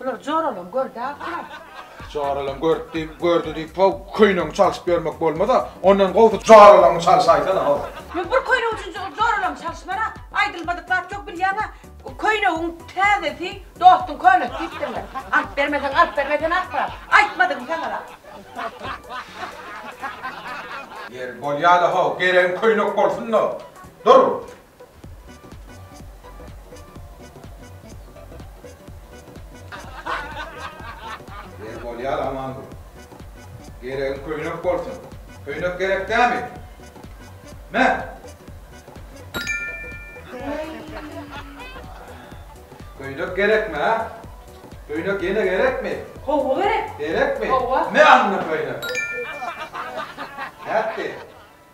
Bular joralam gördi-ä garaz. Joralam görüp diýip, gördi diýip how, köýnegiňi çalşyp ýörmek bolmaz-a. Ondan gowusy joralaňy çalşaýsana how. Men bir köýnek üçin joralamy çalyşman-a. Aýdylmadyk zat ýok bilýäň-ä. Köýnegiň täzesi, dostuň könesi diýipdirler. Alyp bermeseň, alyp berme sen asla. Aýtmadym saňa-da. Ýeri, bolýa-da how, geregim köýnek bolsun-da. Dur! Ýeri bolýar aman dur. Geregiň köýnek bolsun. Köýnek gerek dämi? Me! Köýnek gerekmi, ha? Köýnek ýene gerekmi? Howwa gerek. Gerekmi? Howwa. Me anna köýnek. Nätdi?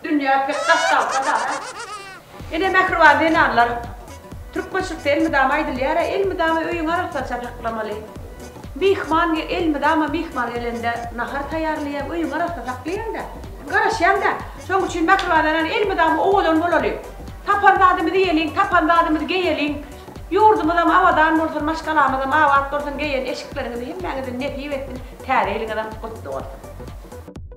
Dünýä pek daş galsa-da, ene mähriban zenanlar, türkmençilikde elmydama aýdylýar-a, elmydama öýüňi arassaça saklamaly. Myhman elmydama myhman gelende nahar taýýarlaýaň, öýüňi arassa saklaýaň-da, garaşýaň-da. Şonuň üçin mähriban zenan elmydama owadan bolaly. Tapan zadymyzy iýeliň, tapan zadymyzy geýeliň. Ýurdumyzam abadan bolsun, maşgalamyzam abat bolsun, geýen eşikleriňizi hemmäňize nesip etsin, täze ýylyňyzam gutly bolsun!